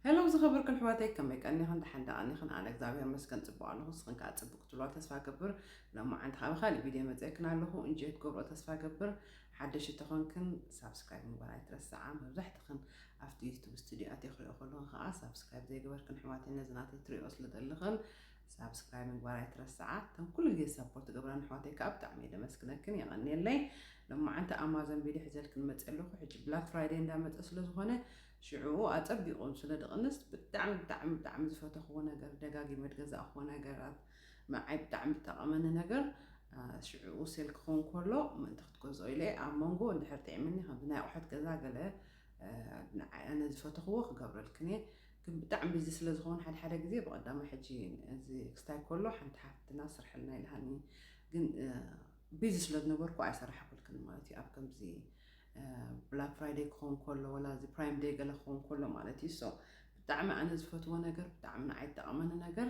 Hello ዝኸበርኩ ኣሕዋተይ ከመይ ቀኒኽን ደሓን ዶ ቀኒኽን ኣነ እግዚኣብሔር ይመስገን ጽቡቕ ኣለኹ ንስኽን ከኣ ጽቡቕ ክትብልዋ ተስፋ እገብር ሎማዓንቲ ከኣ ብኻልእ ቪድዮ መጺኤክን ኣለኹ እንጆይ ክትገብርኦ ተስፋ እገብር ሓደሽቲ ተኾንክን ሳብስክራይብ ምግባር ኣይትረስዓ መብዛሕትኽን ኣብቲ ዩቱብ ስቱድዮ ኣትየ ክሪኦ ከለኹን ከኣ ሳብስክራይብ ዘይገበርክን ኣሕዋተይ ነዚ ናተይ ትሪኦ ስለ ዘለኽን ሳብስክራይብ ምግባር ኣይትረስዓ እተን ኩሉ ግዜ ሰፖርት ትገብራን ኣሕዋተይ ከኣ ብጣዕሚ እየ ደመስግነክን የቐንየለይ ሎማዓንቲ ኣማዞን ቪድዮ ሒዘልክን መጺ ኣለኹ ሕጂ ብላክ ፍራይደይ እንዳመጸ ስለ ዝኾነ ሽዑኡ ኣጸቢቑ ስለ ድቕንስ ብጣዕሚ ብጣዕሚ ብጣዕሚ ዝፈተኽዎ ነገር ደጋጊመ ድገዛእኽዎ ነገራት ንዓይ ብጣዕሚ ድጠቐመኒ ነገር ሽዑኡ ሴል ክኸውን ከሎ ምእንቲ ክትገዝኦ ኢለ ኣብ መንጎ እንድሕር ጥዒምኒ ከምዚ ናይ ኣቑሑት ገዛ ገለ ንዓይ ኣነ ዝፈተኽዎ ክገብረልክን'የ ግን ብጣዕሚ ቢዚ ስለ ዝኸውን ሓደ ሓደ ግዜ ብቐዳማይ ሕጂ እዚ ክስታይ ከሎ ሓንቲ ሓፍትና ስርሕልና ኢልሃኒ ግን ቢዚ ስለ ዝነበርኩ ኣይሰራሕኩልክን ማለት እዩ ኣብ ከምዚ ብላክ ፍራይደይ ክኸውን ከሎ ወላ እዚ ፕራይም ደይ ገለ ክኸውን ከሎ ማለት እዩ ሶ ብጣዕሚ ኣነ ዝፈትዎ ነገር ብጣዕሚ ንዓይ ዝጠቐመኒ ነገር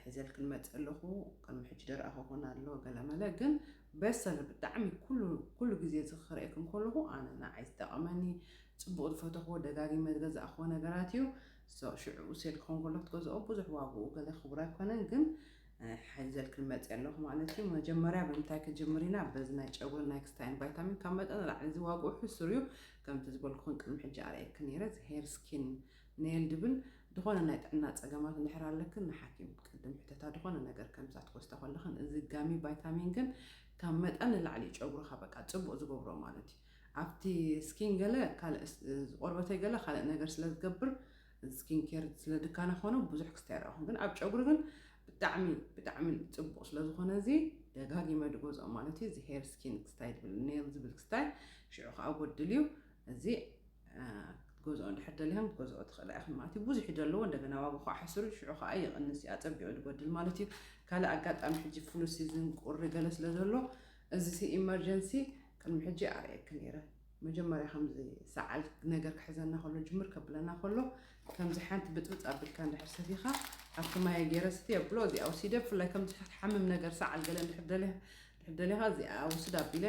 ሒዘል ክንመፅ ኣለኹ ቅድሚ ሕጂ ደረኣኹ ኮን ኣሎ ገለመለ ግን በሰለ ብጣዕሚ ኩሉ ግዜ እዚ ክርእየኩም ከለኹ ኣነ ንዓይ ዝጠቐመኒ ፅቡቕ ዝፈተኽዎ ደጋጊመ ዝገዛእኽዎ ነገራት እዩ ሽዑ ሴል ክኸውን ከሎ ክትገዝኦ ብዙሕ ዋግኡ ገለ ክቡር ኣይኮነን ግን ሕዘል ክንመፅ ኣለኹ ማለት እዩ መጀመርያ ብምንታይ ክጅምር ኢና በዚ ናይ ጨጉሪ ናይ ክስታይን ቫይታሚን ካብ መጠን ንላዕሊ እዚ ዋግኡ ሕሱር እዩ ከምቲ ዝበልኩኽን ቅድሚ ሕጂ ኣርእየኪ ነይረ እዚ ሄር ስኪን ኔል ድብል ዝኾነ ናይ ጥዕና ፀገማት እንድሕር ኣለክን ንሓኪም ቅድም ሕተታ ዝኾነ ነገር ከምዛት ኮስታ ከለኽን እዚ ጋሚ ቫይታሚን ግን ካብ መጠን ንላዕሊ እዩ ጨጉርኻ በቃ ፅቡቅ ዝገብሮ ማለት እዩ ኣብቲ ስኪን ገለ ካልእ ቆርበተይ ገለ ካልእ ነገር ስለ ዝገብር ስኪን ኬር ስለ ድካና ኮነ ብዙሕ ክስታይ ኣይረኣኹን ግን ኣብ ጨጉሪ ግን ብጣዕሚ ብጣዕሚ ጽቡቕ ስለ ዝኾነ እዚ ደጋጊመ ድገዝኦ ማለት እዩ እዚ ሄር ስኪን ክስታይ ድብል ኔል ዝብል ክስታይ ሽዑ ከዓ ጎድል እዩ እዚ ክትገዝኦ እንድሕር ደሊኹም ክትገዝኦ ትኽእላ ኢኹም ማለት እዩ ብዙሕ እዩ ዘለዎ እንደገና ዋጋ ከዓ ሕስሩ ሽዑ ከዓ ይቕንስ እዩ ኣጸቢቑ ድጎድል ማለት እዩ ካልእ ኣጋጣሚ ሕጂ ፍሉ ሲዝን ቁሪ ገለ ስለ ዘሎ እዚ ሲ ኢመርጀንሲ ቅድሚ ሕጂ ኣርእየኪ ነይረ መጀመርያ ከምዚ ሰዓል ነገር ክሕዘና ከሎ ጅምር ከብለና ከሎ ከምዚ ሓንቲ ብጥብጥ ኣብልካ እንድሕር ሰቲካ ኣብቲ ማየ ገይረ ስቲ ኣብሎ እዚኣ ወሲደ ብፍላይ ከምዚ ክትሓምም ነገር ሰዓል ገለ እንድሕር ደሊያ እንድሕር ደሊኻ እዚኣ ውስድ ኣቢለ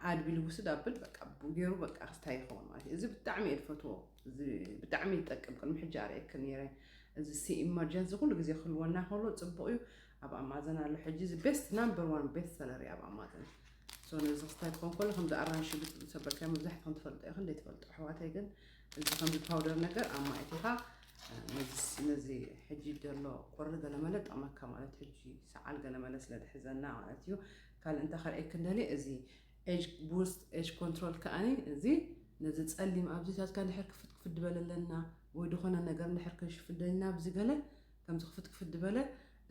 ኣድቢሉ ውስድ ኣብል በቃ ገይሩ በቃ ክስታይ ይኸውን ማለት እዩ እዚ ብጣዕሚ እየ ዝፈትዎ ብጣዕሚ ይጠቅም ቅድሚ ሕጂ ኣርእየክ ነይረ እዚ ሲ ኢመርጀንሲ ኩሉ ግዜ ክህልወና ከሎ ፅቡቅ እዩ ኣብ ኣማዘን ኣሎ ሕጂ እዚ ቤስት ናምበር ዋን ቤስት ሰለሪ ኣብ ኣማዘን So ነዚ ክስታይ ክኾን ከሎ ከምዚ ኣራንሺ ብጽብጽ ሰበርካዮ መብዛሕትኹም ትፈልጦ ኢኽን ዘይትፈልጡ ኣሕዋተይ ግን እዚ ከምዚ ፓውደር ነገር ኣብ ማይ እቲኻ ነዚ ነዚ ሕጂ ዘሎ ቁሪ ገለመለ ጠቕመካ ማለት ሕጂ ሰዓል ገለመለ ስለ ዝሕዘና ማለት እዩ ካልእ እንታይ ከርእየክን ደልየ እዚ ኤጅ ቡስት ኤጅ ኮንትሮል ከኣኒ እዚ ነዚ ጸሊም ኣብዚታትካ እንድሕር ክፍት ክፍት ድበለለና ወይ ዝኾነ ነገር እንድሕር ክንሽፍደልና ኣብዚ ገለ ከምዚ ክፍት ክፍት ድበለ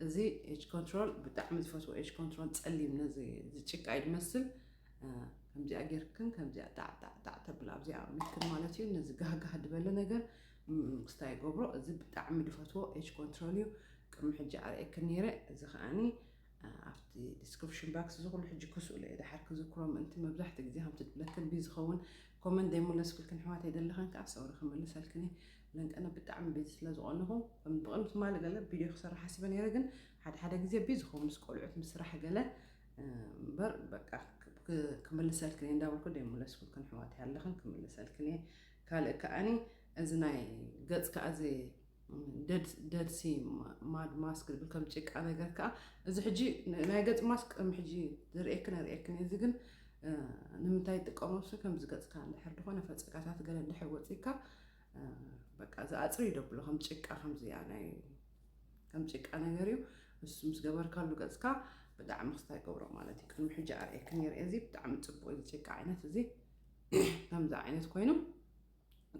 እዚ ኤጅ ኮንትሮል ብጣዕሚ ዝፈትዎ ኤጅ ኮንትሮል ጸሊም ነዚ ዝጭቃ እዩ ድመስል ከምዚኣ ጌርክን ከምዚኣ ጣዕጣዕጣዕ ተብል ኣብዚኣ ምትክን ማለት እዩ ነዚ ጋህጋህ ድበለ ነገር ክስታ ይገብሮ እዚ ብጣዕሚ ድፈትዎ ኤጅ ኮንትሮል እዩ ቅድሚ ሕጂ ኣርእየክን ነይረ እዚ ከዓኒ ኣብቲ ዲስክሪፕሽን ባክስ እዚ ኩሉ ሕጂ ክስእሎ እየ ድሓር ክዝክሮ ምእንቲ መብዛሕትኡ ግዜ ከምቲ ድብለክን ብዩ ዝኸውን ኮመንት ዘይምለስኩልክን ሕዋት ኣይደለኸን ከዓ ሰውሪ ክምልሰልክን እየ መንቀነ ብጣዕሚ ቢዚ ስለ ዝኮነኩ ከም ብቅን ትማሊ ገለ ቢድዮ ክሰርሕ ሓሲበ ነይረ ግን ሓደ ሓደ ግዜ ቢዚ ኮን ምስ ቆልዑት ምስ ስራሕ ገለ እምበር በቃ ክምልሰልክን እየ እንዳበልኩ ደይምለስኩልክን ሕዋት ኣለክን ክምልሰልክን እየ ካልእ ከዓኒ እዚ ናይ ገጽ ከዓ እዚ ደድሲ ማድ ማስክ ዝብል ከም ጭቃ ነገር ከዓ እዚ ሕጂ ናይ ገጽ ማስክ ከም ሕጂ ዝርእየክን ኣርእየክን እዚ ግን ንምንታይ ይጥቀሙ ስ ከምዚ ገጽካ እንድሕር ዝኾነ ፈጸጋታት ገለ እንድሕር ወፂካ በቃ እዚ ኣፅሪ እዩ ደብሎ ከም ጭቃ ከምዚኣ ናይ ከም ጭቃ ነገር እዩ ንሱ ምስ ገበርካሉ ገፅካ ብጣዕሚ ክስታይ ገብሮ ማለት እዩ ቅድሚ ሕጂ ኣርእየክን ነይረ እዚ ብጣዕሚ ፅቡቅ እዚ ጭቃ ዓይነት እዚ ከምዚ ዓይነት ኮይኑ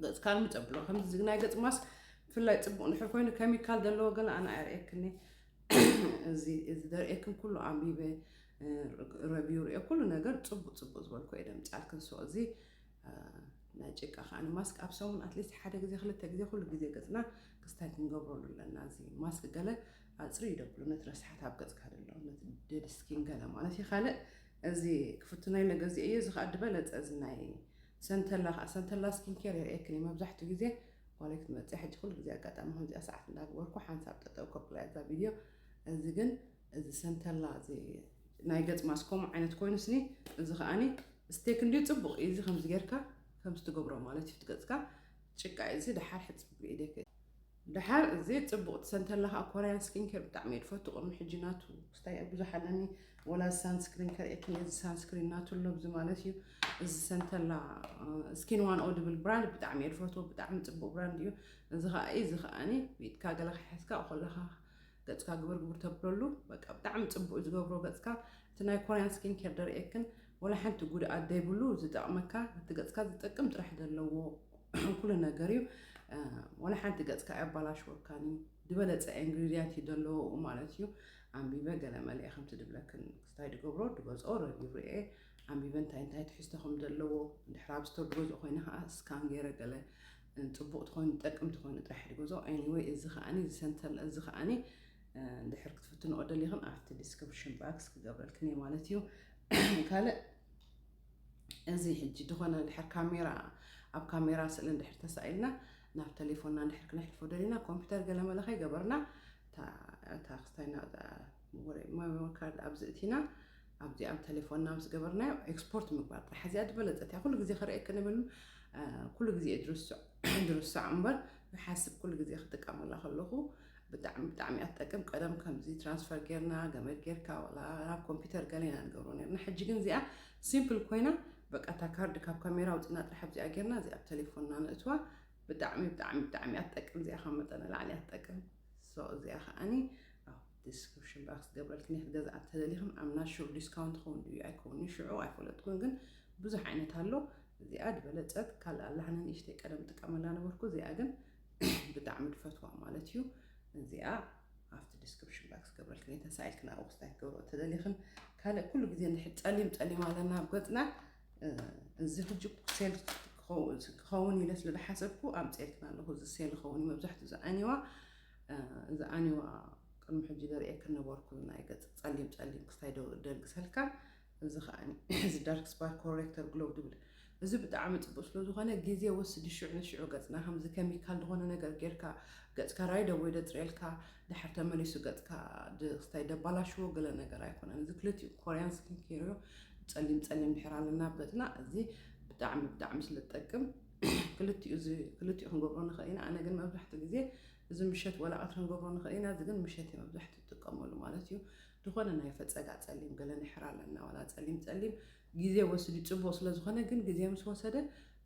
ገፅካ ልምፅ ኣብሎ ከምዚ ናይ ገፅ ማስክ ብፍላይ ፅቡቅ ንድሕር ኮይኑ ኬሚካል ዘለዎ ገለ ኣነ ኣየርእየክኒ እዚ ዘርእየክን ኩሉ ኣንቢበ ረቪው ሪኦ ኩሉ ነገር ፅቡቅ ፅቡቅ ዝበልኩ እየ ደምፅኣልክን ሶ እዚ ናይ ጭቃ ከኣ ማስክ ኣብ ሰሙን ኣትሊስት ሓደ ግዜ ክልተ ግዜ ኩሉ ግዜ ገጽና ክስታይ ክንገብረሉ ኣለና እዚ ማስክ ገለ ኣጽሪ ይደብሉ ነቲ ረስሓት ኣብ ገጽካ ደሎ ነቲ ደድ ስኪን ገለ ማለት እዩ ካልእ እዚ ክፍትና ኢለ ገዚኦ እዩ እዚ ከዓ ድበለጸ እዚ ናይ ሰንተላ ከዓ ሰንተላ ስኪን ኬር የርእየክን መብዛሕትኡ ግዜ ጓለይ ክትመፅእ ሕጂ ኩሉ ግዜ ኣጋጣሚ ከምዚኣ ሰዓት እንዳግበርኩ ሓንሳብ ጠጠው ከብላ እዛ ቪድዮ እዚ ግን እዚ ሰንተላ እዚ ናይ ገጽ ማስክ ከምኡ ዓይነት ኮይኑስኒ እዚ ከኣኒ ስቴክ እንድዩ ጽቡቕ እዩ እዚ ከምዚ ጌርካ ከምዚ ትገብሮ ማለት እዩ ትገጽካ ጭቃ እዩ እዚ ደሓር ሕጽብ ብኢደክ ደሓር እዚ ፅቡቅ ትሰንተላ ከዓ ኮርያን ስኪን ኬር ብጣዕሚ እየ ድፈቱ ቅድሚ ሕጂ ናቱ ክስታይ ብዙሕ ኣለኒ ወላ ሳንስክሪን ከርእየክን እዚ ሳንስክሪን ናቱ ኣሎ ብዚ ማለት እዩ እዚ ሰንተላ ስኪን ዋን ኦ ድብል ብራንድ ብጣዕሚ እየ ድፈቱ ብጣዕሚ ፅቡቅ ብራንድ እዩ እዚ ከዓ እዚ ከዓኒ ብኢድካ ገለ ክሕዝካ ከለካ ገጽካ ግብር ግብር ተብለሉ በቃ ብጣዕሚ ጽቡቅ ዝገብሮ ገጽካ እቲ ናይ ኮርያን ስኪን ኬር ደርእየክን ወላ ሓንቲ ጉድኣት ዘይብሉ ዝጠቅመካ እቲ ገጽካ ዝጠቅም ጥራሕ ዘለዎ ኩሉ ነገር እዩ ወላ ሓንቲ ገጽካ ኣያባላሽወካን እዩ ዝበለጸ ኢንግሪድያንት እዩ ዘለዎኡ ማለት እዩ ኣንቢበ ገለ መለ ከምቲ ድብለክን ክስታይ ድገብሮ ድገዝኦ ረቪው ርኤ ኣንቢበ እንታይ እንታይ ትሕዝቶ ከም ዘለዎ ድሕር ኣብ ስቶር ድገዝኦ ኮይነ ከዓ ስካን ገይረ ገለ ጽቡቅ ትኾኑ ትጠቅም ትኾኑ ጥራሕ ሕድጎዞ Anyway እዚ ከኣ እዚ ሰንተር እዚ ከኣ ድሕር ክትፍትንኦ ደሊኽን ኣብቲ ዲስክሪፕሽን ባክስ ክገብረልክን እየ ማለት እዩ ካልእ እዚ ሕጂ ዝኾነ ድሕር ካሜራ ኣብ ካሜራ ስእሊ እንድሕር ተሳኢልና ናብ ቴሌፎንና እንድሕር ክነሕልፎ ደሊና ኮምፒውተር ገለመለ ከይገበርና እታ ክስታይና ወረ ማይወ ካርድ ኣብዚ እቲና ኣብዚኣ ቴሌፎንና ምስ ገበርናዮ ኤክስፖርት ምግባር ጥራሕ እዚኣ ዝበለፀት እያ ኩሉ ግዜ ክርእየክን እብል ኩሉ ግዜ ድርሳዕ እምበር ይሓስብ ኩሉ ግዜ ክጥቀመላ ከለኹ ብጣዕሚ ብጣዕሚ እያ ትጠቅም ቀደም ከምዚ ትራንስፈር ጌርና ገመድ ጌርካ ዋላ ናብ ኮምፒውተር ገለ ኢና ንገብሮ ነርና ሕጂ ግን እዚኣ ሲምፕል ኮይና በቃ እታ ካርድ ካብ ካሜራ ውፅና ጥራሕ ኣብዚኣ ጌርና እዚኣ ቴሌፎንና ነእትዋ ብጣዕሚ ብጣዕሚ ብጣዕሚ እያ ትጠቅም እዚኣ ካብ መጠን ንላዕሊ እያ ትጠቅም so እዚኣ ከኣኒ ኣብ ዲስክርፕሽን ባክስ ክገብረልክን እየ ክትገዝኣ እንተደሊኽን ኣም ናት ሹር ዲስካውንት ክኸውን ድዩ ኣይከውን እዩ ሽዑ ኣይፈለጥኩን ግን ብዙሕ ዓይነት ኣሎ እዚኣ ዝበለጸት ካልእ ኣላ ንእሽተይ ቀደም ጥቀመላ ነበርኩ እዚኣ ግን ብጣዕሚ ድፈትዋ ማለት እዩ እዚኣ ኣብቲ ዲስክሪፕሽን ባክስ ክገብረልክን እየ ተሳኢልክን ኣብኡ ክስታይ ክትገብሮ እተደሊኽን ካልእ ኩሉ ግዜ እንድሕር ጸሊም ጸሊም ኣለና ኣብ ገጽና እዚ ሕጂ ሴል ክኸውን ኢለ ስለ ዝሓሰብኩ ኣምፅኤልክን ኣለኹ እዚ ሴል ይኸውን መብዛሕትኡ ዝዓኒዋ ዝዓኒዋ ቅድሚ ሕጂ ዘርእየክን ነበርኩ ናይ ገፅ ፀሊም ፀሊም ክስታይ ደንግሰልካ እዚ ከዓኒ እዚ ዳርክ ስፓር ኮሬክተር ግሎው ዝብል እዚ ብጣዕሚ ፅቡቅ ስለዝኾነ ግዜ ወስዲ ሽዑ ንሽዑ ገፅና ከምዚ ከሚካል ዝኾነ ነገር ጌርካ ገፅካ ራይደ ወይ ደፅርየልካ ድሕር ተመሊሱ ገፅካ ስታይ ደባላሽዎ ገለ ነገር ኣይኮነን እዚ ክልቲኡ ኮርያን ስኪን ኬር ጸሊም ጸሊም ድሕር ኣለና በትና እዚ ብጣዕሚ ብጣዕሚ ስለ ዝጠቅም ክልቲኡ ክልቲኡ ክንገብሮ ንኽእል ኢና ኣነ ግን መብዛሕትኡ ግዜ እዚ ምሸት ወላ ቀትሪ ክንገብሮ ንኽእል ኢና እዚ ግን ምሸት እየ መብዛሕትኡ ትጥቀመሉ ማለት እዩ ዝኾነ ናይ ፈፀጋ ጸሊም ገለ ንሕር ኣለና ዋላ ጸሊም ጸሊም ግዜ ወስድ ጽቡቅ ስለ ዝኾነ ግን ግዜ ምስ ወሰደ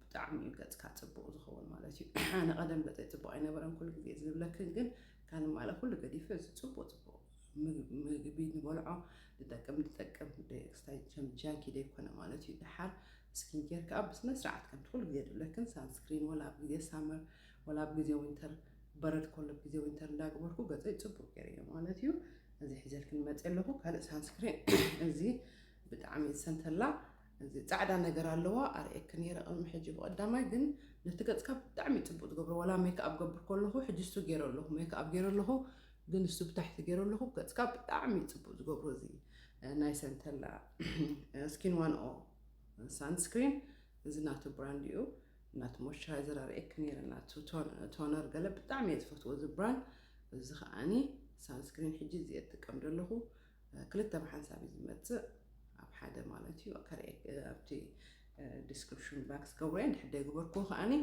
ብጣዕሚ እዩ ገጽካ ጽቡቅ ዝኸውን ማለት እዩ ኣነ ቀደም ገጸይ ጽቡቅ ኣይነበረን ኩሉ ግዜ ዝብለክን ግን ካን ማለ ኩሉ ገዲፈ እዚ ጽቡቅ ጽቡቅ ምግቢ ንበልዖ ድጠቅም ድጠቅም ደይክስታይ ቸም ጃንኪ ደይኮነ ማለት እዩ ደሓር ስኪን ኬር ከዓ ብስነ ስርዓት ከምቲ ኩሉ ግዜ ድብለክን ሳንስክሪን ወላ ኣብ ግዜ ሳመር ወላ ኣብ ግዜ ዊንተር በረድ ከሎ ኣብ ግዜ ዊንተር እንዳገበርኩ ገፀይ ፅቡቅ ገይረዮ ማለት እዩ እዚ ሒዘልክን መፀ ኣለኹ ካልእ ሳንስክሪን እዚ ብጣዕሚ ዝሰንተላ እዚ ፃዕዳ ነገር ኣለዋ ኣርእየክ ነይረ ቅድሚ ሕጂ ብቀዳማይ ግን ነቲ ገፅካ ብጣዕሚ ፅቡቅ ዝገብሮ ዋላ ሜክኣብ ገብር ከለኹ ሕጂ እሱ ገይረ ኣለኹ ሜክኣብ ገይረ ኣለኹ ግን ንሱ ብታሕቲ ገይሮ ኣለኹ ገጽካ ብጣዕሚ እዩ ጽቡቅ ዝገብሮ እዚ ናይ ሰንተላ ስኪን ዋን ኦ ሳንስክሪን እዚ ናቱ ብራንድ እዩ ናቱ ሞይስቸራይዘር ኣርእየኪ ነይረ ናቱ ቶነር ገለ ብጣዕሚ እየ ዝፈትዎ እዚ ብራንድ እዚ ከዓኒ ሳንስክሪን ሕጂ እዚ እየ ዝጥቀም ዘለኹ ክልተ ብሓንሳብ እዩ ዝመጽእ ኣብ ሓደ ማለት እዩ ኣብቲ ዲስክሪፕሽን ባክስ ገብረ እንድሕር ደይገበርክዎ ከዓኒ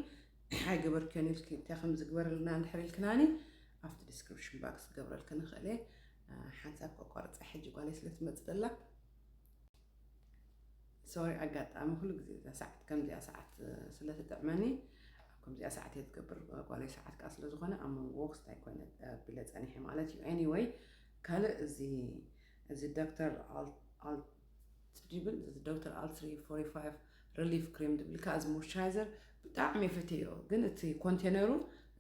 እንታይ ኣይገበርክዮን ኢልኪ እንታይ ከምዚ ግበርልና እንድሕር ኢልክናኒ ኣብቲ ዲስክሪፕሽን ባክስ ክገብረልክን እኽእል እየ ሓንሳብ ከቋርፃ ሕጂ ጓለይ ስለ ትመፅእ ዘላ ሶሪ ኣጋጣሚ ኩሉ ግዜ እዛ ሰዓት ከምዚኣ ሰዓት ስለ ትጥዕመኒ ኣብ ከምዚኣ ሰዓት እየ ዝገብር ጓለይ ሰዓት ከዓ ስለ ዝኾነ ኣብ መንጎ ወክስት ኣይኮነ ኣቢለ ፀኒሐ ማለት እዩ ኤኒወይ ካልእ እዚ እዚ ዶክተር እቲ ዲብል እዚ ዶክተር ኣልትሪ ፎርቲ ፋይቭ ረሊፍ ክሬም ድብል ከኣ እዚ ሞይስቸራይዘር ብጣዕሚ ፈቴዮ ግን እቲ ኮንቴነሩ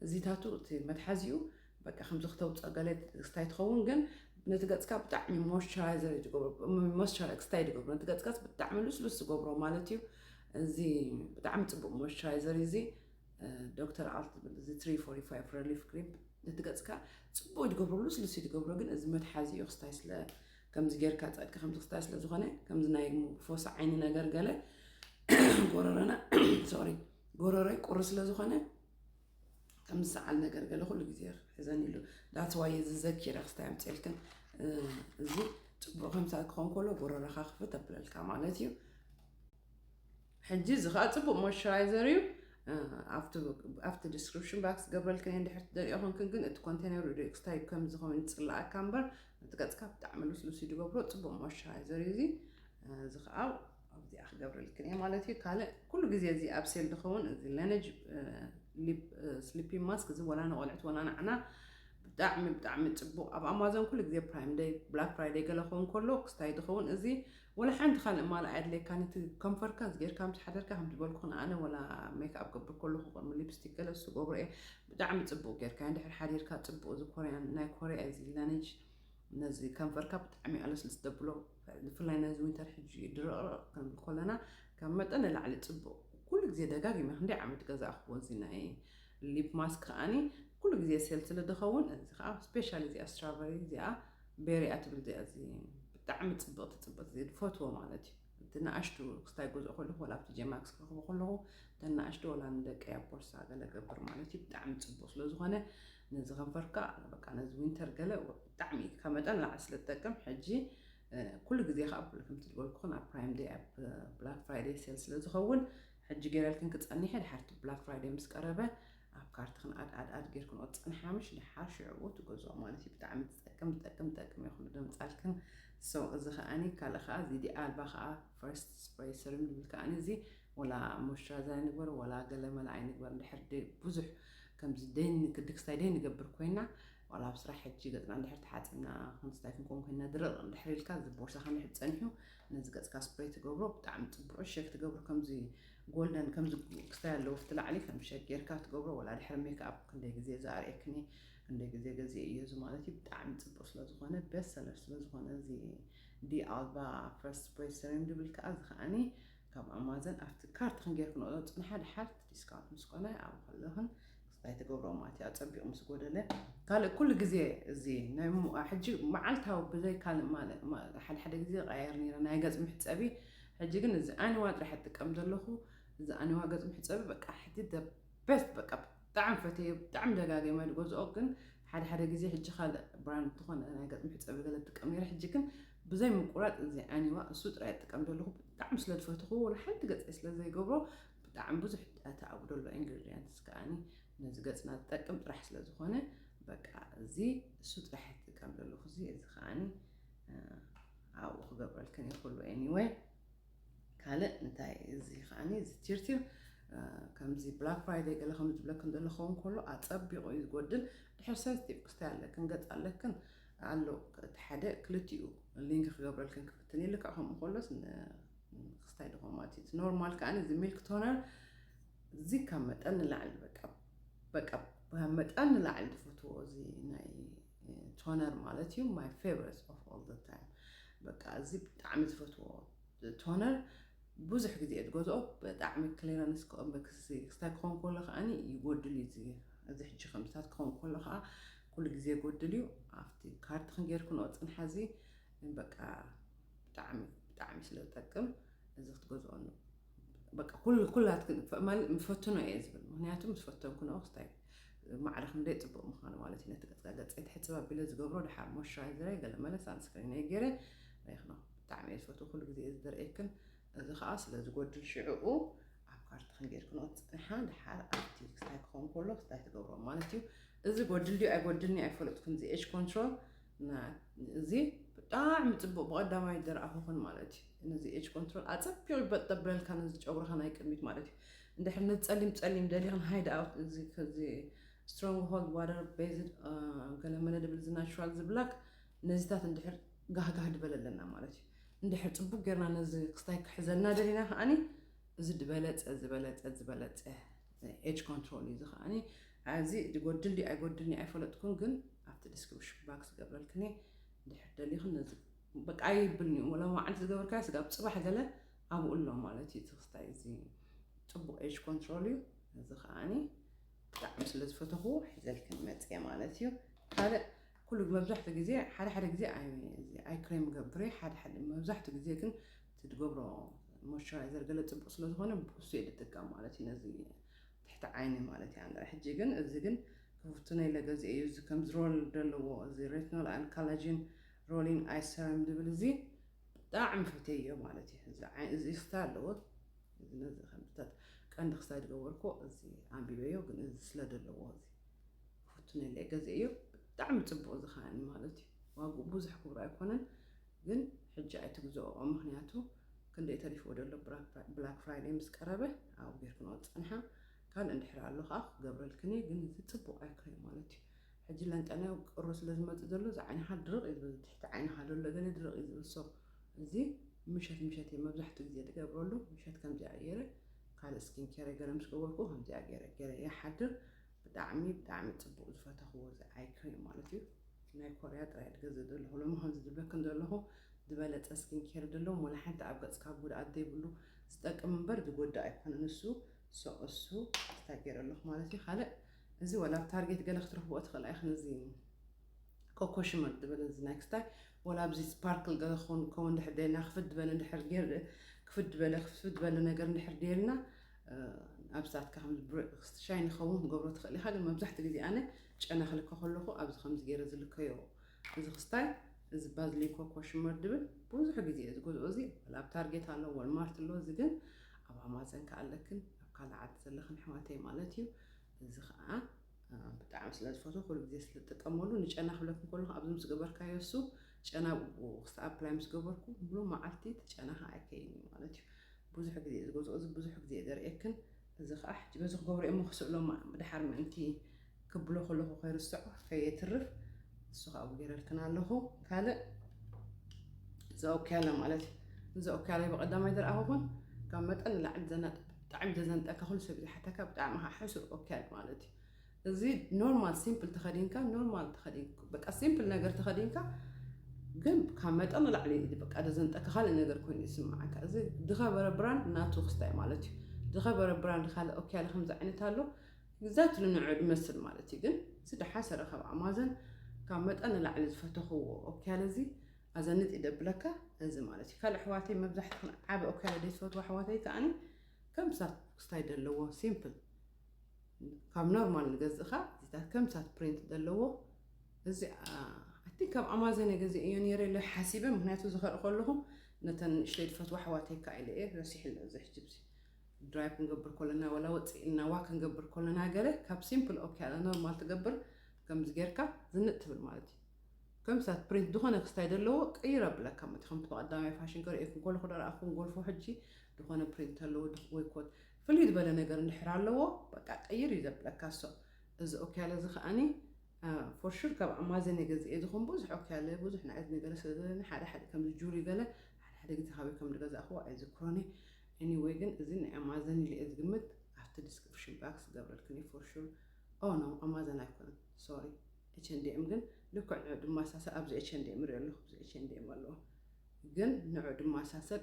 እዚታቱ እቲ መትሓዚኡ በቃ ከምዚ ክተውፅኦ ገለ ክስታይ ትኸውን ግን ነቲ ገፅካ ብጣዕሚ ሞይስቸራይዘር ዝገብሮ ሞይስቸራ ክስታይ ዝገብሮ ነቲ ገፅካስ ብጣዕሚ ልስሉስ ዝገብሮ ማለት እዩ እዚ ብጣዕሚ ፅቡቅ ሞይስቸራይዘር እዩ እዚ ዶክተር ኣልት ዝብል እዚ ትሪ ፎርቲ ፋይቭ ረሊፍ ክሬም ነቲ ገፅካ ፅቡቅ እዩ ዝገብሮ ልስሉስ እዩ ዝገብሮ ግን እዚ መትሓዚኡ ክስታይ ስለ ከምዚ ጌርካ ጸድቂ ከምዚ ክስታይ ስለ ዝኾነ ከምዚ ናይ ፎሲ ዓይኒ ነገር ገለ ጎረረና ሶሪ ጎረረይ ቁሪ ስለ ዝኾነ ከምዚ ሰዓል ነገር ገለ ኩሉ ግዜ ሕዘን ኢሉ ዳትስ ዋይ እዚ ዘኪረ ክስታይ ኣምፅልክን እዚ ፅቡቅ ከምሳ ክኾን ከሎ ጎረረኻ ክፍት ኣብለልካ ማለት እዩ ሕጂ እዚ ከኣ ጽቡቅ ሞይስቸራይዘር እዩ ኣብቲ ኣብቲ ዲስክሪፕሽን ባክስ ገብረልክን እየ እንድሕር ትደልዮ ኮንክን ግን እቲ ኮንቴነር ሪኦ ክስታይ ከም ዝኸውን ይጽላኣካ እምበር እቲ ገጽካ ብጣዕሚ ልስሉስ እዩ ድገብሮ ጽቡቅ ሞይስቸራይዘር እዩ እዚ እዚ ከዓ ኣብዚኣ ክገብረልክን እየ ማለት እዩ ካልእ ኩሉ ግዜ እዚ ኣብ ሴል ዝኸውን እዚ ለነጅ ስሊፒ ማስክ እዚ ወላ ንቆልዕት ወላ ንዓና ብጣዕሚ ብጣዕሚ ጽቡቅ ኣብ ኣማዞን ኩሉ ግዜ ፕራይም ደይ ብላክ ፍራይደይ ገለ ክኸውን ከሎ ክስታይ ዝኸውን እዚ ወላ ሓንቲ ካልእ ማል ኣየድልየካን እዩ እቲ ከንፈርካ ዝገርካ ምስ ሓደርካ ከምቲ ዝበልኩክን ኣነ ወላ ሜክኣብ ክገብር ከለኩ ከምኡ ሊፕስቲክ ገለ እሱ ገብሮ እየ ብጣዕሚ ጽቡቅ ገርካ እንድሕር ሓዲርካ ጽቡቅ እዚ ኮርያን ናይ ኮርያ እዩ እዚ ላነጅ ነዚ ከንፈርካ ብጣዕሚ እዩ ኣለስልስ ዘብሎ ብፍላይ ነዚ ዊንተር ሕጂ እዩ ድርቕርቕ ክንብል ኮለና ካብ መጠን ንላዕሊ ጽቡቅ ኩሉ ግዜ ደጋጊመ ክንደይ ዓመት ገዛእክዎ እዚ ናይ ሊፕ ማስክ ከዓኒ ኩሉ ግዜ ሴል ስለ ድኸውን እዚ ከዓ ስፔሻሊ እዚኣ ስትራቨሪ እዚኣ ቤሪያ ትብል እዚኣ እዚ ብጣዕሚ ፅብቕቲ ፅብቕቲ ዝፈትዎ ማለት እዩ እቲ ንኣሽቱ ክስታይ ገዝኦ ከለኹ ወላ ኣብቲ ጀማክስ ክረኽቦ ከለኹ እተን ንኣሽቱ ወላ ንደቀይ ኣብ ቦርሳ ገለ ገብር ማለት እዩ ብጣዕሚ ፅቡቕ ስለ ዝኾነ ነዚ ከንፈርካ በቃ ነዚ ዊንተር ገለ ብጣዕሚ ካብ መጠን ላዕሊ ስለ ትጠቅም ሕጂ ኩሉ ግዜ ከዓ ብሉ ከምቲ ዝበልኩኹን ኣብ ፕራይም ደይ ኣብ ብላክ ፍራይደይ ሴል ስለ ዝኸውን ሕጂ ገይረልክን ክፀኒሐ ድሓርቲ ብላክ ፍራይደይ ምስ ቀረበ ኣብ ካርትኽን ኣድ ኣድ ኣድ ጌርክንኦ ትጸንሓምሽ ደሓር ሽዕኡ ትገዝኦ ማለት እዩ ብጣዕሚ ትጠቅም ትጠቅም ትጠቅም እያ ኩሉ ደምጻልክን so እዚ ከኣኒ ካልእ ከኣ እዚ ዲኣ ኣልባ ከኣ first spray serum ንብል ከኣኒ እዚ ወላ moisturizer ኣይንግበር ወላ ገለ መለ ኣይንግበር እንድሕር ደ ብዙሕ ከምዚ ደይን ክድክስታይ ደይ ንገብር ኮይና ዋላ ኣብ ስራሕ ሕጂ ገጽና እንድሕር ተሓጺብና ክንስታይ ክንከውን ኮይና ድርቕ እንድሕር ኢልካ እዚ ቦርሳኻ እንድሕር ጸኒሑ ነዚ ገጽካ ስፕሬይ ትገብሮ ብጣዕሚ ጽቡቕ ሸክ ትገብሩ ከምዚ ጎልደን ከምዚ ክስታይ ኣለዎ ኣብቲ ላዕሊ ከም ሸግ ጌርካ ትገብሮ ወላ ድሕሪ ሜክኣፕ ክንደይ ግዜ እዛ ኣርእየክን እየ ክንደይ ግዜ ገዚኤ እየ እዚ ማለት እዩ ብጣዕሚ ጽቡቅ ስለ ዝኾነ ቤስት ሰለር ስለ ዝኾነ እዚ ዲ ኣልባ ፍረስ ስፕሬይ ሰሪም ድብል ከኣ እዚ ከኣኒ ካብ ኣማዘን ኣብቲ ካርትክን ጌርክንኦ ጽንሓ ድሓር እቲ ዲስካውንት ምስ ኮነ ኣብኡ ከለኽን ናይ ትገብሮ ማለት ኣጸቢቑ ምስ ጎደለ ካልእ ኩሉ ግዜ እዚ ናይ ሕጂ መዓልታዊ ብዘይ ካልእ ማለት ሓደ ሓደ ግዜ ቐያየር ነይረ ናይ ገጽ ምሕጸቢ ሕጂ ግን እዚ ኣኒዋ ጥራሕ እጥቀም ዘለኹ እዚ ኣኒዋ ገጽ ምሕጸቢ በቃ ሕጂ ደ በስት በቃ ብጣዕሚ ፈተዮ ብጣዕሚ ደጋጊመ ዝገዝኦ ግን ሓደ ሓደ ግዜ ሕጂ ካልእ ብራንድ ዝኾነ ናይ ገጽ ምሕጸቢ ገለ እጥቀም ነይረ ሕጂ ግን ብዘይ ምቁራጽ እዚ ኣኒዋ እሱ ጥራይ እጥቀም ዘለኹ ብጣዕሚ ስለ ዝፈትኹ ንሓንቲ ገጽ ስለ ዘይገብሮ ብጣዕሚ ብዙሕ ዳታ ኣብኡ ዘሎ ኢንግሪድያንትስ ከኣኒ ነዚ ገጽና ዝጠቅም ጥራሕ ስለ ዝኾነ በቃ እዚ እሱ ጥራሕ እየ ዝጥቀም ዘለኹ እዚ እዚ ከኣኒ ኣብኡ ክገብረልክን እየ ኩሉ ኤኒወይ ካልእ እንታይ እዚ ከኣኒ እዚ ቲርቲር ከምዚ ብላክ ፍራይደይ ገለ ከም ዝብለክን ዘሎ ክኸውን ከሎ ኣጸቢቑ እዩ ዝጎድል ድሕር ሰንስቲቭ ክስታይ ኣለክን ገጽ ኣለክን ኣሎ እቲ ሓደ ክልቲኡ ሊንክ ክገብረልክን ክፍትን እየ ልክዕ ከምኡ ከሎስ ክስታይ ድኾማት እዩ ኖርማል ከኣ እዚ ሚልክ ቶነር እዚ ካብ መጠን ንላዕሊ በቃ በቃ ካብ መጠን ንላዕሊ ዝፈትዎ እዚ ናይ ቶነር ማለት እዩ ማይ ፌቨረስ ኦፍ ኦል ዘ ታይም በቃ እዚ ብጣዕሚ ዝፈትዎ ቶነር ብዙሕ ግዜ እየ ዝገዝኦ ብጣዕሚ ክሊረንስ ክስታይ ክኸውን ከሎ ከዓኒ ይጎድል እዩ እዚ እዚ ሕጂ ከምዚታት ክኸውን ከሎ ከዓ ኩሉ ግዜ ይጎድል እዩ ኣብቲ ካርድ ክንጌርክንኦ ፅንሓ እዚ በቃ ብጣዕሚ ብጣዕሚ ስለ ዝጠቅም እዚ ክትገዝኦ ን በቃ ኩሉ ኩላትክን ፈ- ማለት ምስ ፈትኖ እየ ዝብል ምክንያቱ ምስ ፈተንኩ ንኦ ክስታይ ማዕረ ክንደይ ፅቡቅ ምኳኑ ማለት እዩ ነቲ ገፅካ ገፀይ ትሕፅብ ኣቢለ ዝገብሮ ድሓር ሞይስቸራይዘረይ ገለ መለ ሳንስክሪነይ ገይረ ሬክኖ ብጣዕሚ እየ ዝፈትው ኩሉ ግዜ እየ ዝደርእየክን እዚ ከዓ ስለ ዝጎድል ሽዕኡ ኣብ ካርትክን ጌርክንኦ ትፅንሓ ድሓር ኣብቲ ክስታይ ክኸውን ከሎ ክስታይ ትገብሮ ማለት እዩ እዚ ጎድል ድዩ ኣይጎድልኒ ኣይፈለጥኩን እዚ ኤጅ ኮንትሮል እዚ ብጣዕሚ ጽቡቅ ብቀዳማይ ዝረኣኹኽን ማለት እዩ ነዚ ኤጅ ኮንትሮል ኣጸቢቑ ይበጥ ዘብለልካ ነዚ ጨጉርኻ ናይ ቅድሚት ማለት እዩ እንድሕር ነዚ ጸሊም ጸሊም ደሊኽን ሃይድ ኣውት እዚ ከዚ ስትሮንግ ሆልድ ዋተር ቤዝድ ገለመለ ድብል እዚ ናቹራል ዝብላክ ነዚታት እንድሕር ጋህጋህ ድበለ ኣለና ማለት እዩ እንድሕር ጽቡቅ ጌርና ነዚ ክስታይ ክሕዘልና ደሊና ከዓኒ እዚ ድበለጸ ዝበለጸ ዝበለጸ ናይ ኤጅ ኮንትሮል እዩ እዚ ከኣ ኣዚ ይጎድል ድዩ ኣይጎድልን ኣይፈለጥኩን ግን ኣብቲ ዲስክሪፕሽን ባክስ ዝገብረልክን እየ ድሕር ደሊኽን ነዚ በቃ ኣይብልን እዩ ወላ መዓልቲ ዝገበርካዮ ስጋብ ፅባሕ ገለ ኣብኡ ኣሎ ማለት እዩ ትክስታይ እዚ ፅቡቅ ኤጅ ኮንትሮል እዩ እዚ ከዓኒ ብጣዕሚ ስለ ዝፈተኹ ሒዘልክን መፅየ ማለት እዩ ካልእ ኩሉ መብዛሕትኡ ግዜ ሓደ ሓደ ግዜ ኣይ ክሬም ገብሬ ሓደ ሓደ መብዛሕትኡ ግዜ ግን እቲ ትገብሮ ሞይስቸራይዘር ገለ ጽቡቅ ስለ ዝኮነ ብሱ እየ ዝጥቀም ማለት እዩ ነዚ ትሕቲ ዓይኒ ማለት እያ እንድዒ ሕጂ ግን እዚ ግን ክፍትኖ ኢለ ገዚኤ እዩ እዚ ከምዚ ሮል ደለዎ እዚ ሬትኖል ኣን ካላጂን ሮሊን ኣይ ሰረም ዝብል እዚ ብጣዕሚ ፈትየዮ ማለት እዩ እዚ ዓይ እዚ ስታ ኣለዎ እዚ ነዚ ከምታት ቀንዲ ክሳይ ዝገበርኩ እዚ ኣንቢበዮ ግን እዚ ስለ ደለዎ እዚ ክፍትኖ ኢለ ገዚኤዮ ብጣዕሚ ጽቡቅ እዚ ከዓኒ ማለት እዩ ዋግኡ ብዙሕ ክብሩ ኣይኮነን ግን ሕጂ ኣይትግዝኦኦ ምክንያቱ ክንደይ ተሪፍዎ ዶ ኣሎ ብላክ ፍራይደይ ምስ ቀረበ ኣብኡ ጌርክንኦ ትጸንሓ ካልእ እንድሕር ኣሎ ከኣ ክገብረልክን እየ ግን እዚ ጽቡቅ ኣይኮነን ማለት እዩ ሕጂ ለንጠንያው ቅሮ ስለ ዝመጽእ ዘሎ እዚ ዓይንካ ድርቅ እዩ ዝብል ትሕቲ ዓይንካ ዘሎ ገለ ድርቅ እዩ ዝብል ሶ እዚ ምሸት ምሸት እየ መብዛሕትኡ ግዜ ዝገብረሉ ምሸት ከምዚኣ ገይረ ካልእ ስኪን ኬረይ ገለ ምስ ገበርኩ ከምዚኣ ገይረ ገይረ ይሓድር ብጣዕሚ ብጣዕሚ ጽቡቅ ዝፈተኽዎ እዚ ኣይከ ዩ ማለት እዩ ናይ ኮርያ ጥራይ ድገ ዘደለኹ ሎሚ ከምዚ ድብለክን ዘለኹ ዝበለጸ ስኪን ኬር ደለዎም ወላ ሓንቲ ኣብ ገጽካ ጉድኣት ዘይብሉ ዝጠቅም እምበር ዝጎድእ ኣይኮነ ንሱ ሶ እሱ ስታ ገይረ ኣለኹ ማለት እዩ ካልእ እዚ ወላ ኣብ ታርጌት ገለ ክትረኽብኦ ትኽእል ኣይኽን እዚ ኮኮ ሽመር ዝበለ እዚ ናይ ክስታይ ወላ ኣብዚ ስፓርክል ገለ ክኸውን ከውን ድሕር ደልና ክፍት ዝበለ ድሕር ክፍት ዝበለ ክፍት ዝበለ ነገር ድሕር ደልና ኣብዛትካ ከምዚ ብርዕክስቲ ሻይ ንክኸውን ክትገብሮ ትኽእል ኢኻ፣ ግን መብዛሕትኡ ግዜ ኣነ ጨና ክልከ ከለኹ ኣብዚ ከምዚ ገይረ ዝልከዮ እዚ ክስታይ እዚ ባዝሊን ኮኮ ሽመር ድብል ብዙሕ ግዜ እየ ዝገዝኦ እዚ ወላ ኣብ ታርጌት ኣሎ ወልማርት ኣሎ እዚ ግን ኣብ ኣማዘን ከ ኣለክን ኣብ ካልእ ዓዲ ዘለኽን ኣሕዋተይ ማለት እዩ እዚ ከዓ ብጣዕሚ ስለ ዝፈትዎ ኩሉ ግዜ ስለ ዝጥቀመሉ ንጨና ክብለክን ከለኹ ኣብዚ ምስ ገበርካዮ እሱ ጨና ክስኣብ ፕላይ ምስ ገበርኩ ሙሉእ መዓልቲ እቲ ጨና ከኣ ኣይከይን እዩ ማለት እዩ ብዙሕ ግዜ እዩ ዝገዝኦ እዚ ብዙሕ ግዜ እዩ ዘርእየክን እዚ ከኣ ሕጂ በዚ ክገብሮ እየ እሞ ክስእሎ ድሓር ምእንቲ ክብሎ ከለኹ ከይርስዖ ከየትርፍ እሱ ከኣ ኣብኡ ገይረልክን ኣለኹ ካልእ እዛ ኦክያላ ማለት እዩ እዚ ኦክያላ ብቀዳማይ ዝረኣኹኹን ካብ መጠን ንላዕሊ ዘናጥ ብጣዕሚ ዘዘንጠካ ኩሉ ሰብ ዝሓተካ ብጣዕሚ ከዓ ሕሱር ኦክያል ማለት እዩ እዚ ኖርማል ሲምፕል ተኸዲንካ ኖርማል ተኸዲንካ በቃ ሲምፕል ነገር ተኸዲንካ ግን ካብ መጠን ንላዕሊ በቃ ደዘንጠካ ካልእ ነገር ኮይኑ ይስምዓካ እዚ ዝኸበረ ብራንድ ናቱ ክስታይ ማለት እዩ ዝኸበረ ብራንድ ካልእ ኦኬ ያለ ከምዚ ዓይነት ኣሎ ግዛት ልንዑ ዝመስል ማለት እዩ ግን እዚ ድሓሰረ ካብ ኣማዘን ካብ መጠን ንላዕሊ ዝፈተኽዎ ኦኬ ያለ እዚ ኣዘንጥ ይደብለካ እዚ ማለት እዩ ካልእ ኣሕዋተይ መብዛሕትኹን ዓበ ኦኬ ያለ ደይትፈትዎ ኣሕዋተይ ከዓኒ ከምሳ ክስታይ ዘለዎ ሲምፕል ካብ ኖርማል ንገዝእኻ እዚታት ከምሳት ፕሪንት ዘለዎ እዚ ኣቲ ካብ ኣማዘን የገዚእዮ ነይረ ኢለ ሓሲበ ምክንያቱ ዝኸርኢ ከለኹ ነተን ንእሽተይ ዝፈትዋ ኣሕዋተይ ከ ኢለ እየ ረሲሕለ እዚ ሕጂ ብዚ ድራይቭ ክንገብር ኮለና ወላ ወፅእ ኢልና ዋ ክንገብር ኮለና ገለ ካብ ሲምፕል ኦኬ ኣለ ኖርማል ትገብር ከምዚ ጌርካ ዝንጥ ትብል ማለት እዩ ከም ሳት ፕሪንት ዝኾነ ክስታይ ዘለዎ ቀይር ኣብለካ መት ከምቲ ብቀዳማይ ፋሽን ከርእየኩም ኮሎ ክደረኣኹም ጎልፎ ሕጂ ዝኾነ ፕሪንት ኣለዎ ወይ ኮት ፍልይ ዝበለ ነገር እንድሕር ኣለዎ በቃ ቀይር እዩ ዘብለካ እሶ እዚ ኦክያለ እዚ ከኣኒ ፎር ሹር ካብ ኣማዘን እየ ገዚኤ ዝኹን ብዙሕ ኦክያለ ብዙሕ ናይ እዝኒ ገለ ስለ ዘለኒ ሓደ ሓደ ከምዚ ጁሪ ገለ ሓደ ሓደ ግዜ ካበይ ከም ዝገዛእክዎ ኣይዝክሮን እየ ኤኒወይ ግን እዚ ናይ ኣማዘን ኢለ እየ ዝግምት ኣብቲ ዲስክሪፕሽን ባክስ ዝገብረልክን እዩ ፎር ሹር ኦ ኖ ኣማዘን ኣይኮነን ሶሪ ኤችንዲኤም ግን ልክዕ ንዑ ድማ ሳሰል ኣብዚ ኤችንዲኤም ሪኦ ኣለኹ ኣብዚ ኤችንዲኤም ኣለዎ ግን ንዑ ድማ ሳሰል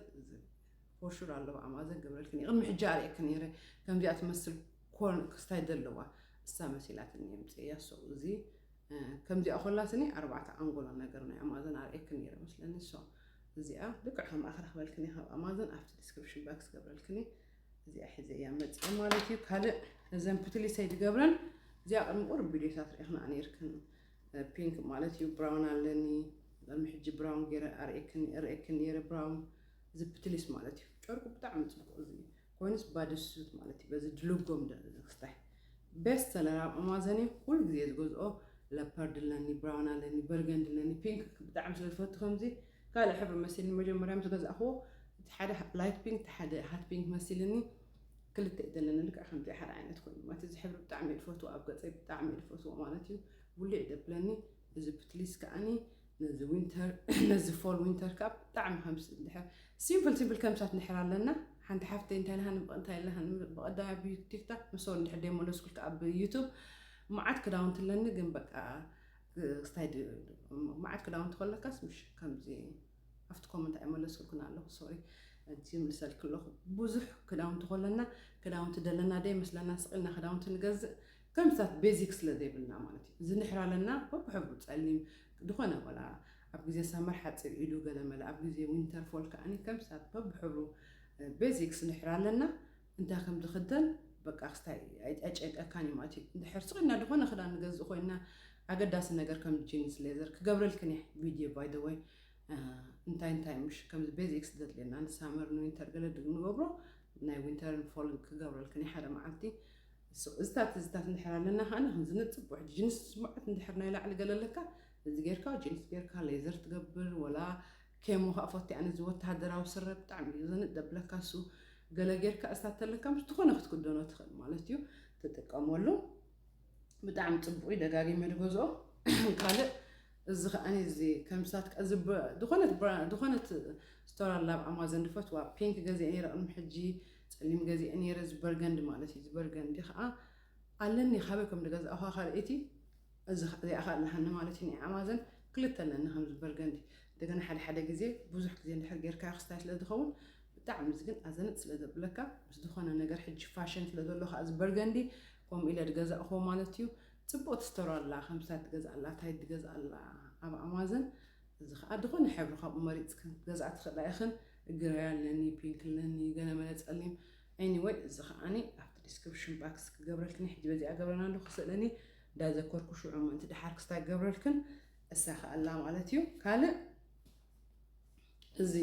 ፎር ሹር ኣለዋ ኣማዘን ገብረልክን እየ ቅድሚ ሕጂ ኣርእየክን ነይረ ከምዚኣ ትመስል ኮርን ክስታይ ዘለዋ እሳ መሲላትኒ እየ ምፅእያ ሶ እዚ ከምዚኣ ኮላትኒ ኣርባዕተ ኣንጎሎ ነገር ናይ ኣማዘን ኣርእየክን ነይረ መስለኒ ሶ እዚኣ ልክዕ ከምኣ ክረክበልክን ካብ ኣማዘን ኣብቲ ዲስክሪፕሽን ባክስ ገብረልክኒ እዚኣ ሒዘ እያ መፅእ ማለት እዩ ካልእ እዘን ፕትሊሰይ ዝገብረን እዚኣ ቅድሚ ቁርብ ቪድዮታት ርኢኽና ነርክን ፒንክ ማለት እዩ ብራውን ኣለኒ ቅድሚ ሕጂ ብራውን ገይረ ኣርእክን ነይረ ብራውን ዝፕትሊስ ማለት እዩ ጨርቁ ብጣዕሚ ጽቡቅ እዚ ኮይኑስ ባድሱት ማለት እዩ በዚ ድልጎም ደሊ ዝክስታይ ቤስት ሰለር ኣብ ኣማዘን እዩ ኩሉ ግዜ ዝገዝኦ ለፐርድ ኣለኒ ብራውን ኣለኒ በርገንድ ኣለኒ ፒንክ ብጣዕሚ ስለ ዝፈቱ ከምዚ ካልእ ሕብሪ መሲልኒ መጀመርያ ምስ ገዛእክዎ እቲ ሓደ ላይት ፒንክ እቲ ሓደ ሃት ፒንክ መሲልኒ ክልተ እዩ ዘለኒ ልክዕ ከምዚ ሓደ ዓይነት ኮይኑ ማለት እዚ ሕብሪ ብጣዕሚ እየ ዝፈትዎ ኣብ ገፀይ ብጣዕሚ እየ ዝፈትዎ ማለት እዩ ብሉዕ ደብለኒ እዚ ፕትሊስ ከዓኒ ነዚ ዊንተር ነዚ ፎል ዊንተር ካብ ብጣዕሚ ከምስ ድሕር ሲምፕል ሲምፕል ከምሳት ንሕር ኣለና ሓንቲ ሓፍተይ እንታይ ለሃ ንብቕ እንታይ ለሃ ብቐዳያ ብቲክታክ ምሰው እንድሕር ደይ መለስኩልካ ኣብ ዩቱብ መዓት ክዳውንቲ ኣለኒ ግን በቃ ስታይ መዓት ክዳውንቲ ከለካስ ምሽ ከምዚ ኣብቲ ኮመንት ኣይመለስኩልኩን ኣለኹ ሶሪ እቲ ምልሰልክ ኣለኹ ብዙሕ ክዳውንቲ ከለና ክዳውንቲ ደለና ደይ መስለና ስቕልና ክዳውንቲ ንገዝእ ተምሳት ቤዚክ ስለ ዘይብልና ማለት እዩ ዝንሕር ኣለና በብ ሕብሩ ጸሊም ድኾነ ወላ ኣብ ግዜ ሳመር ሓጺር ኢዱ ገለ መለ ኣብ ግዜ ዊንተር ፎል ከኣኒ ተምሳት በብ ሕብሩ ቤዚክስ ንሕር ኣለና እንታይ ከም ዝኽደን በቃ ክስታይ ኣይጨንቀካን እዩ ማለት እዩ እንድሕር ስቕና ድኾነ ክዳን ንገዝእ ኮይና ኣገዳሲ ነገር ከም ጂንስ ሌዘር ክገብረልክን እየ ቪድዮ ባይ ዘ ወይ እንታይ እንታይ ምሽ ከምዚ ቤዚክስ ዘድልየና ንሳመር ንዊንተር ገለ ንገብሮ ናይ ዊንተርን ፎልን ክገብረልክን እየ ሓደ መዓልቲ ስቕ ዝታ ትዝታት እንድሕር ኣለና ከኣና ከምዚ ንጽቦ ሕጂ ጅንስ ስሙዓት እንድሕር ናይ ላዕሊ ገለ ኣለካ እዚ ጌርካ ጅንስ ጌርካ ሌዘር ትገብር ወላ ኬሞ ከኣ ፎቴ ኣነ እዚ ወተሃደራዊ ስረ ብጣዕሚ እዩ ዘንጥ ደብለካ እሱ ገለ ጌርካ እስታ ተለካ ምስ ዝኾነ ክትክደኖ ትኽእል ማለት እዩ ትጥቀመሉ ብጣዕሚ ጽቡቕ እዩ ደጋጊመ ድገዝኦ ካልእ እዚ ከኣኒ እዚ ከምሳት እዚ ዝኾነት ዝኾነት ስቶር ኣላ ኣብ ኣማዞን ድፈትዋ ፒንክ ገዚአ ነይረ ቅድሚ ሕጂ ጸሊም ገዚኤ ኔረ እዚ በርገንዲ ማለት እዩ እዚ በርገንዲ ከኣ ኣለኒ ካበይ ከም ዝገዛእኳ ካልኣይቲ እዚ ከኣ እዚኣ ከኣ ኣለሃኒ ማለት እዩ ናይ ኣማዘን ክልተ ኣለኒ ከምዚ በርገንዲ እንደገና ሓደ ሓደ ግዜ ብዙሕ ግዜ እንድሕር ጌርካዮ ክስታይ ስለ ዝኸውን ብጣዕሚ እዚ ግን ኣዘንጥ ስለ ዘብለካ ምስ ዝኾነ ነገር ሕጂ ፋሽን ስለ ዘሎ ከኣ እዚ በርገንዲ ከምኡ ኢለ ዝገዛእክዎ ማለት እዩ ጽቡቅ ትስተሮ ኣላ ከምስታት ትገዝእ ኣላ ታይ ትገዝእ ኣላ ኣብ ኣማዘን እዚ ከኣ ዝኾነ ሕብሪ ካብኡ መሪጽክን ክትገዝኣ ትኽእላ ኢኽን ግረይ ኣለኒ ፒንክ ኣለኒ ገለመለ ጸሊም ኤኒ ወይ እዚ ከኣኒ ኣብቲ ዲስክርፕሽን ባክስ ክገብረልክን ሕጂ በዚኣ ገብረና ኣለኹ ስእለኒ እንዳዘከርኩ ሽዑ ምእንቲ ድሓር ክስታይ ክገብረልክን እሳኸኣላ ማለት እዩ ካልእ እዚ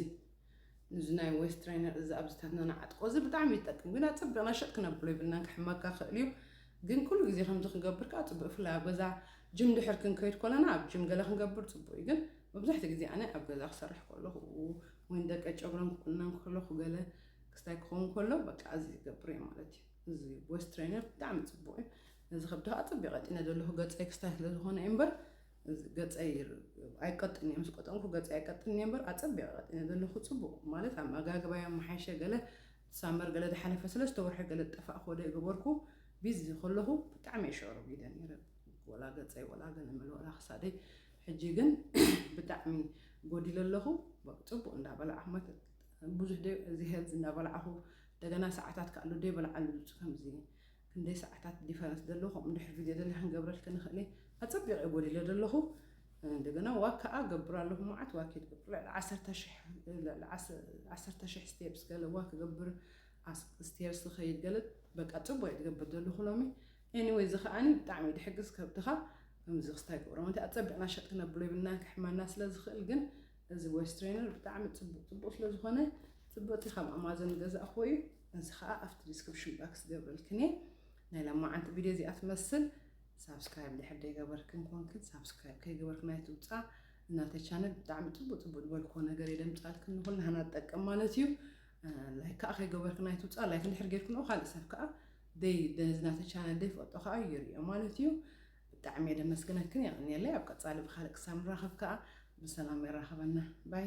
እዚ ናይ ዌስት ትሬነር እዚ ኣብዚታትና ንዓጥቆ እዚ ብጣዕሚ ይጠቅም ግን ኣፀቢቕና ሸጥ ክነብሎ ይብልናን ክሕመካ ክእል እዩ ግን ኩሉ ግዜ ከምዚ ክንገብር ከዓ ፅቡቅ ብፍላይ ኣብ ገዛ ጅም ድሕር ክንከይድ ኮለና ኣብ ጅም ገለ ክንገብር ፅቡቅ እዩ ግን መብዛሕትኡ ግዜ ኣነ ኣብ ገዛ ክሰርሕ ከለኹ ወይ ንደቀይ ጨጉረን ክቁነን ከለኹ ገለ ክስታይ ክኸውን ከሎ በቃ እዚ ይገብር እየ ማለት እዩ። እዚ ቦይስ ትሬነር ብጣዕሚ ጽቡቕ እዩ። ነዚ ከብዲ ከዓ ጽብ የቐጢነ ዘለኹ ገጸይ ክስታይ ስለ ዝኾነ እዩ እምበር ገጸይ ኣይቀጥን እየ ምስ ቆጠንኩ ገጸይ ኣይቀጥን እየ እምበር ኣጸቢቐ ቀጢነ ዘለኹ ጽቡቕ ማለት ኣመጋግባ እየ ኣመሓይሸ ገለ ሳመር ገለ ዝሓለፈ ሰለስተ ወርሒ ገለ ዝጠፋእ ኮደ የገበርኩ ቢዚ ከለኹ ብጣዕሚ እየ ሸዕሮ ቢደ ነይረ ወላ ገጸይ ወላ ገለ መለ ወላ ክሳደይ ሕጂ ግን ብጣዕሚ ጎዲለ ኣለኹ ጽቡቅ እንዳበላ ዓመት ብዙሕ ደ ዝሄብ እንዳበላዕኹ እንደገና ሰዓታት ካሉ ደ በላዓሉ ድምፂ ከምዚ ክንደይ ሰዓታት ዲፈረንስ ደለኹ ከምኡ ድሕር ቪድዮ ደለ ክንገብረልኪ ንኽእል ኣጸቢቀ ጎዲለ ደለኹ እንደገና ዋክ ከዓ ገብር ኣለኹ መዓት ዋክ ይገብር ልዕሊ ዓሰርተ ሽሕ ስቴፕስ ገለ ዋክ ገብር ስቴርስ ዝኸይድ ገለ በቃ ፅቡቅ እየ ዝገብር ዘለኹ ሎሚ Anyway እዚ ከኣኒ ብጣዕሚ እዩ ድሕግዝ ከብድኻ ከምዚ ክስታይ ይገብሮም እንተ ኣጸቢቕና ሸጥ ክነብሎ ይብልና ክሕመና ስለ ዝኽእል ግን እዚ ወይስ ትሬነር ብጣዕሚ ጽቡቕ ጽቡቕ ስለ ዝኾነ ጽቡቕ እቲ ካብ ኣማዞን ዝገዛእክዎ እዩ እዚ ከዓ ኣብቲ ዲስክሪፕሽን ባክስ ገብረልክን እየ ናይ ሎማዓንቲ ቪድዮ እዚኣ ትመስል ሳብስክራይብ ድሕር ደይገበርክን ኮንክን ሳብስክራይብ ከይገበርክን ኣይትውፃ እናተ ቻነል ብጣዕሚ ጽቡቕ ጽቡቕ ዝበልክዎ ነገር እየ ደምፃልክን ንኹልና ሃና ትጠቅም ማለት እዩ ላይክ ከዓ ከይገበርክን ኣይትውፃ ላይክ እንድሕር ጌርክንኦ ካልእ ሰብ ከዓ ደይ ደዝ ናተይ ቻነል ደይ ፈልጦ ከኣ ይሪኦ ማለት እዩ ብጣዕሚ እየ ደመስግነክን የቀንየለይ ኣብ ቀጻሊ ብካልእ ክሳብ ንራከብ ከኣ ብሰላም የራክበና ባይ